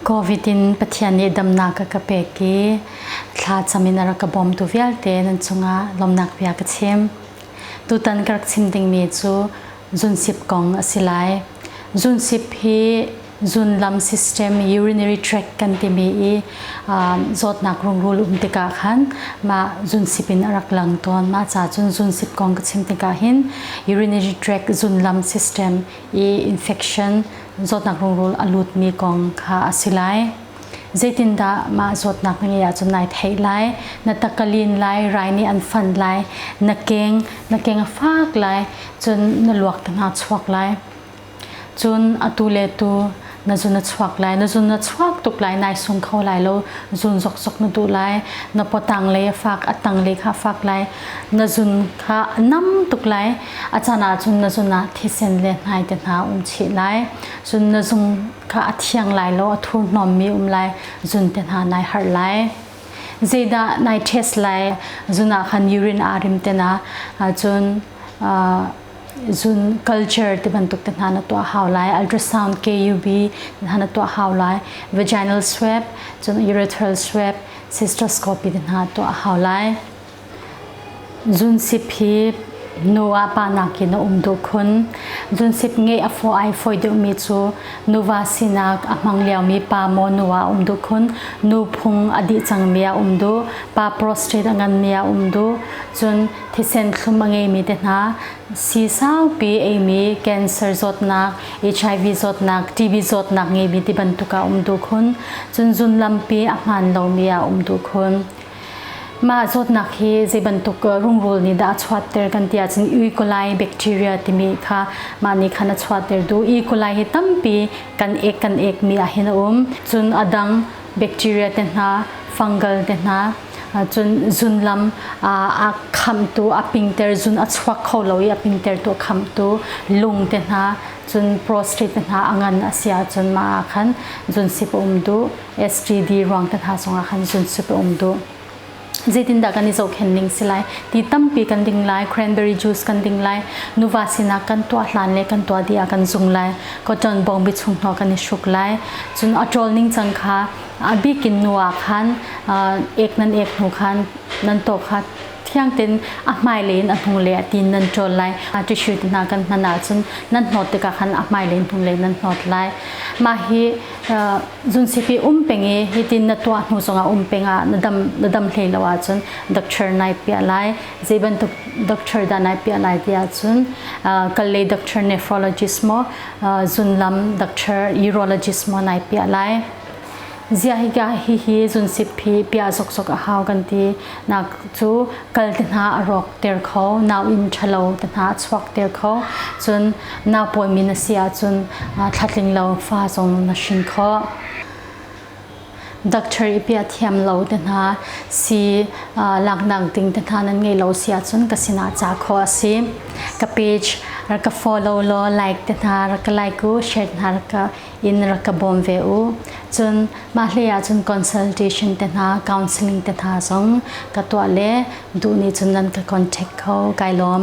Covid in Pathian nih damnak a ka pek i thla cam in a rak ka bawmtu vialte nan cungah lawmnak bia ka chim. Tutan ka rak chim dingmi cu zunsip kong a si lai. Zunsip hi zunlam system urinary tract kan timi i zawtnak rungrul um tikah khan mah zunsip in a rak lang tawn. Mah ca cun zunsip kong ka chim tikah hin urinary tract zunlam system i infection zawtnak rungrul a lutmi kong kha a si lai. Zeitindah mah zawtnak na ngeih ahcun nai theih lai, na tak a lin lai, rai nih an fanh lai, na keng, na keng a fak lai, cun na luak tangah chuak lai. Cun atu le tu na zun na chuak lai na zun na chuak tuk lai nai sung kho lai lo zun zok zok na duh lai na potang le fak atang le kha fak lai na zun kha nam tuk lai a chan ah cun na zun ah thisen le hnai te hna um chi lai cun na zung kha a thiang lai lo a thu nom mi um lai zun te hna nai har lai zeidah nai test lai zuna khan urine arim te na cun zun culture ti bantuk te hna na tuah hau lai ultrasound KUB hna na tuah hau lai vaginal swab cun urethral swab cystoscopy te hna tuah hau lai zun sip hi nu a pa nak in a um du khun zun sip nge a fo ai foi deuh mi cu nuva sinak a hmang liao mi pa mo nu a um du khun nu phung a di cang mi a um du pa prostate a ngan mi a um du cun thisen thlum a ngeimi te hna si saupi eimi cancer zawtnak HIV zawtnak TB zawtnak ngeimi ti bantuk a um tu khun cun zun lampi a hman lomi a um tu khun mah zawtnak hi zei bantuk rungrul nih dah a chuatter kan ti ahcun E. coli bacteria timi kha mah nih khan a chuatter du E. coli hi tampi kan ek kan ekmi ah hin a um cun a dang bacteria te hna fungal te hna cun zun lam a khamtu a pingter zun a chuak kho lo i a pingtertu khamtu lung te hna cun prostate hna a ngan a si ahcun mah ah khan zun sip um duh STD ruang te hna zongah khan zun sip um duh zeitindah kan i zohkhenh ding si lai ti tampi kan ding lai cranberry juice kan ding lai nuva sinak kan tuah hlan le kan tuah dih ah kan zung lai cotton bong bichung hnawk kan i hruk lai cun a ṭawl ning can kha a bik in nu ah khan ek nan ek hnu khan nan to kha thiang ten a hmailei in a hnu le a tin nan ṭawl lai a tissue te hna kan hnan ahcun nan hnawt tikah khan a hmailei hnu le nan hnawt lai mah hi Zunsipi um peng i hitin na tuah hnu zongah um peng ah na dam na dam hlei lo ahcun doctor nai piah lai zei bantuk doctor dah nai piah lai ti ahcun uh, kal lei doctor nephrologist maw uh, zunlam doctor urologist maw nai piah lai ziah higa hihi zunsip hi pia zokzok a hau kan ti nak cu kal te hna a rawk ter kho nau inn ṭhalo te hna a chuak ter kho cun nau pawimi na si ahcun thlatling lo fa zong na hrin kho doctor i pia thiam lo te hna si laknak ding te hna nan ngei lo si ahcun ka sinah ca kho a si ka page rak ka follow law like te hna rak ka like u share hna rak ka in rak ka bawm ve u cun mah hlei ah cun consultation te hna counseling te hna zong ka tuah le duh nih cun nan ka contact kho kai lawm